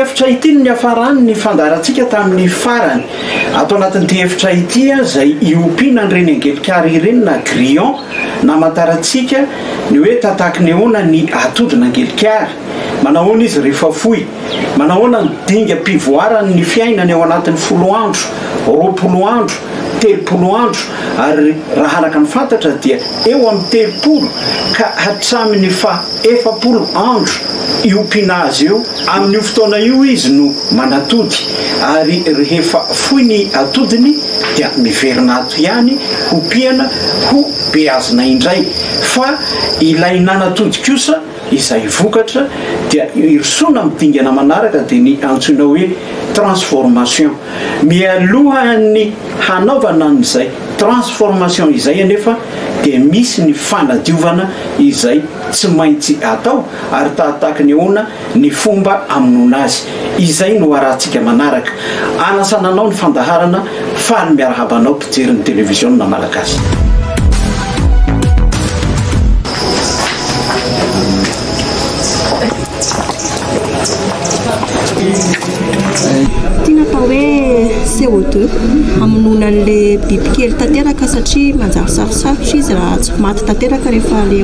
efitra ity ny niafarany ny fandarantsika tamin'ny farany ato anatin'ity efitra ity a izay iompiana an'ireny angelikary ireny na grillon na amantarantsika Ny hoe tataky ny ahoana ny atody nangelikary? Manahoana izy rehefa foy? Manahoana ny dingam-pivoarany ny fiainany ao anatin'ny folo andro, roapolo andro, telopolo andro ary raha araka ny fantatra dia eo amin'ny telopolo ka hatramin'ny faha efapolo andro io mpinazy io Amin'io fotoana io izy no manatody ary rehefa foy ny atodiny dia miverina ato ihany hopiana ho beazina indray fa ilay nanatody kosa izay vokatra dia irosoana amin'ny dingana manaraka dia ny antsoina hoe transformation. Mialohan'ny hanaovana an'izay transformation izay anefa dia misy ny fanadiovana izay tsy maintsy atao ary tahataky ny hoana ny fomba amonoana azy. Izay no arahantsika manaraka. Anasana anao ny fandaharana. Faly miarahaba anao mpijery ny televiziona Malagasy. CO2 hamonoana an'ilay bibikely tanteraka satria manjary sarosarotra izy raha tsy maty tanteraka rehefa ilay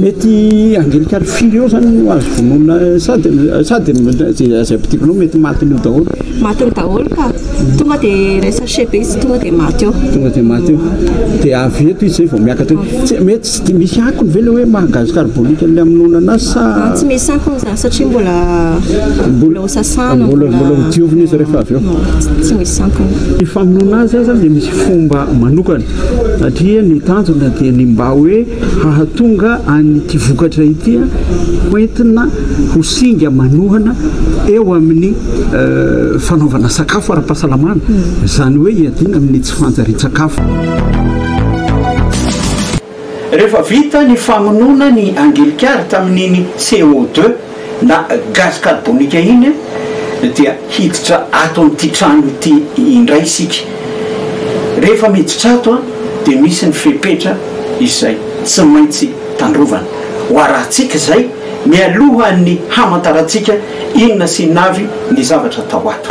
Mety angelikar firy eo zany no azo vonoina sa de sa de zay ampidirina ao mety matiny eo daholo? Matiny daholo ka. Tonga de ilay sachet be izy tonga de maty eo. Tonga de maty eo. De avy eto izy zay vao miakatra eo. Tsy mety tsy de misy akony ve le hoe maha gaz carbonique an'ilay amonoana anazy sa? Tsy misy akony zany satria mbola mbola ho sasana. Mbola mbola ho diovina izy rehefa avy eo. Tsy misy akony. Ny famonoana azy zany dia misy fomba manokana. satria ny tanjona dia ny mba hoe hahatonga an' ity vokatra ity ho entina ho singa manohana eo amin' ny fanaovana sakafo ara-pahasalamana, izany hoe hiadiana amin' ny tsy fanjarian-tsakafo. Rehefa vita ny famonoana ny angilikary tamin' iny CO deux na gaz carbonique iny dia hiditra ato amin'ity trano ity indray isika. Rehefa miditra ato dia misy ny fepetra izay tsy maintsy tandrovana. Ho arahintsika izay mialohan'ny hamantarantsika inona sy inona avy ny zavatra atao ato.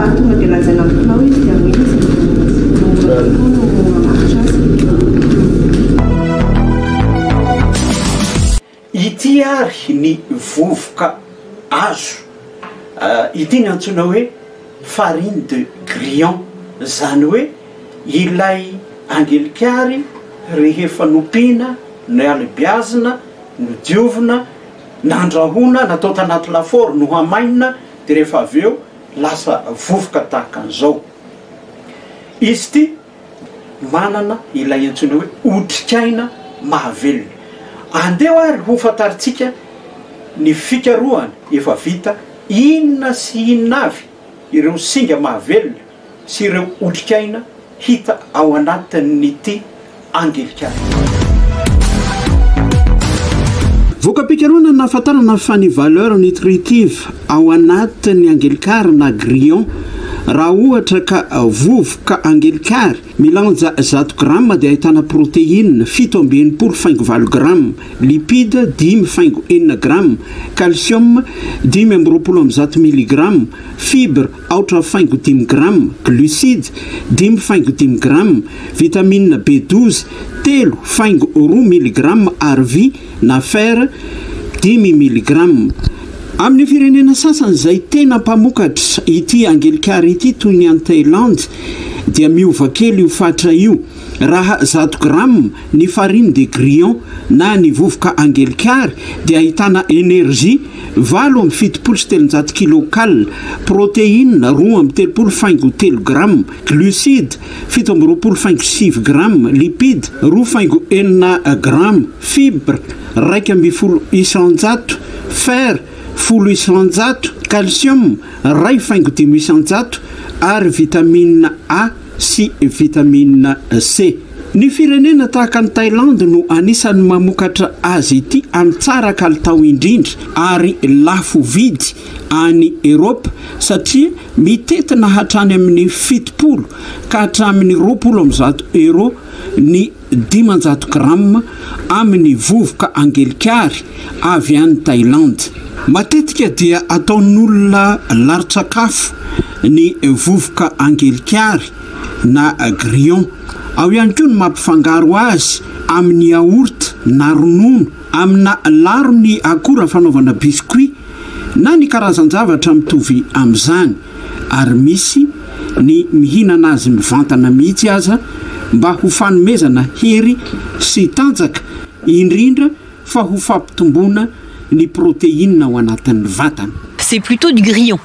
Ary tonga dia lazaina amin'ny mpinao izy dia hoe izy no mora kokoa no mamaritra azy. Ity ary ny vovoka azo, ity no antsoina hoe farine de grillon, izany hoe ilay angelikary rehefa nompiana, nohalebiazina, nodiovina, nandrahoina, natao tanaty lafaoro, nohamainina dia rehefa avy eo lasa vovoka tahaka an'izao. Izy ity manana ilay antsoina hoe otrikaina mahavelona. Andeha ary hofantarintsika ny fikarohana efa vita inona sy inona avy ireo singa mahavelona sy ireo otrikaina hita ao anatin'ity angelica ity. Voka-pikarohana nahafantarana fa ny valeur nutritive ao anatin'ny angelikary na grillon raha ohatra ka vovoka angelikary milanja zato grama dia ahitana protéine fito amby enimpolo faingo valo grama, lipide dimy faingo enina grama, calcium dimy amby roapolo amby zato miligrama, fibre aotra faingo dimy grama, glucides, dimy faingo dimy grama, vitamina B douze, telo faingo roa miligrama ary vy na fer, dimy miligrama. Amin'ny firenena sasany izay tena mpamokatra ity angelikara ity toy ny any Thailand dia miova kely io fatra io, raha zato grama, Ny farine de grillon na ny vovoka angelikary dia ahitana energie valo amby fitopolo sy telonjato kilocal, protéine roa amby telopolo faingo telo grama, glucides fito amby roapolo faingo sivy grama, lipides roa faingo enina grama, fibres iraika ambin'ny folo isanjato, fer folo isanjato, calcium iray faingo dimy isanjato ary vitamine A. sy vitamine C. Ny firenena tahaka an'i Thailandy no anisan'ny mamokatra azy ity amin'ny tsara kalitao indrindra ary lafo vidy any Eropa satria mitentina hatrany amin'ny fitopolo ka hatramin'ny roapolo amin'ny zato Euro ny dimanjato grama amin'ny vovoka angelikary avy any Thailandy. Matetika dia ataon'olona larin-tsakafo ny vovoka angelikary na grillon. Ao ihany koa ny mampifangaro azy amin'ny yaourt na ronono Amina laron'ny akora fanaovana biscuit na ny karazan-javatra mitovy amin'izany, ary misy ny mihinana azy mivantana mihitsy aza mba ho fanomezana hery sy tanjaka, indrindra fa ho fampitomboana ny protéine ao anatin'ny vatana. C'est plutôt du grillon.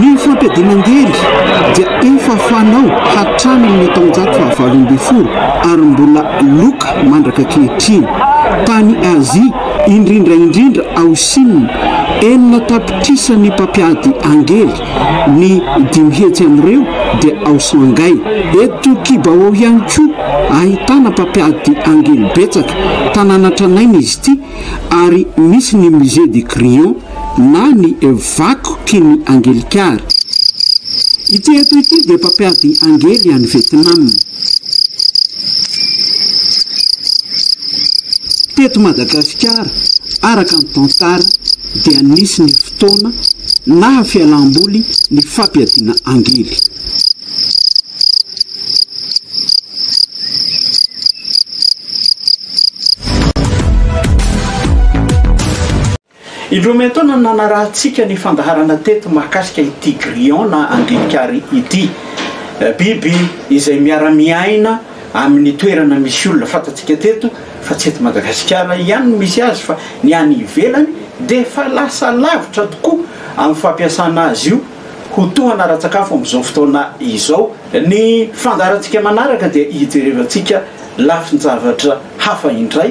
Ny fampiadiana an-gery dia efa fanao hatramin'ny taonjato fahavalo ambin'ny folo ary mbola loka mandraka ankehitriny. Tany Azia, indrindra indrindra ao Shina, enina tapitrisa ny mpampiady an-gery, ny dimy hetsy amin'ireo dia ao Shanghai. Eto Qibao ihany koa, ahitana mpampiady an-gery betsaka. Tanàna tranainy izy ity ary misy ny Musée du Crayon. na ny vakoky ny angelikara. Ity eto ity dia mpampiady angely any Vietnam. Teto Madagasikara, araka ny tantara, dia nisy ny fotoana naha fialam-boly ny fampiadiana angely. Indroa miantaona no nanarahantsika ny fandaharana teto mahakasika ity grillon na andian-kary ity. Biby izay miara-miaina amin'ny toerana misy olona. Fantatsika teto fa tsy eto Madagasikara ihany no misy azy fa ny any ivelany dia efa lasa lavitra tokoa amin'ny fampiasana azy io ho tohana ara-tsakafo amin'izao fotoana izao. Ny fandaharantsika manaraka dia hijerevantsika lafin-javatra hafa indray.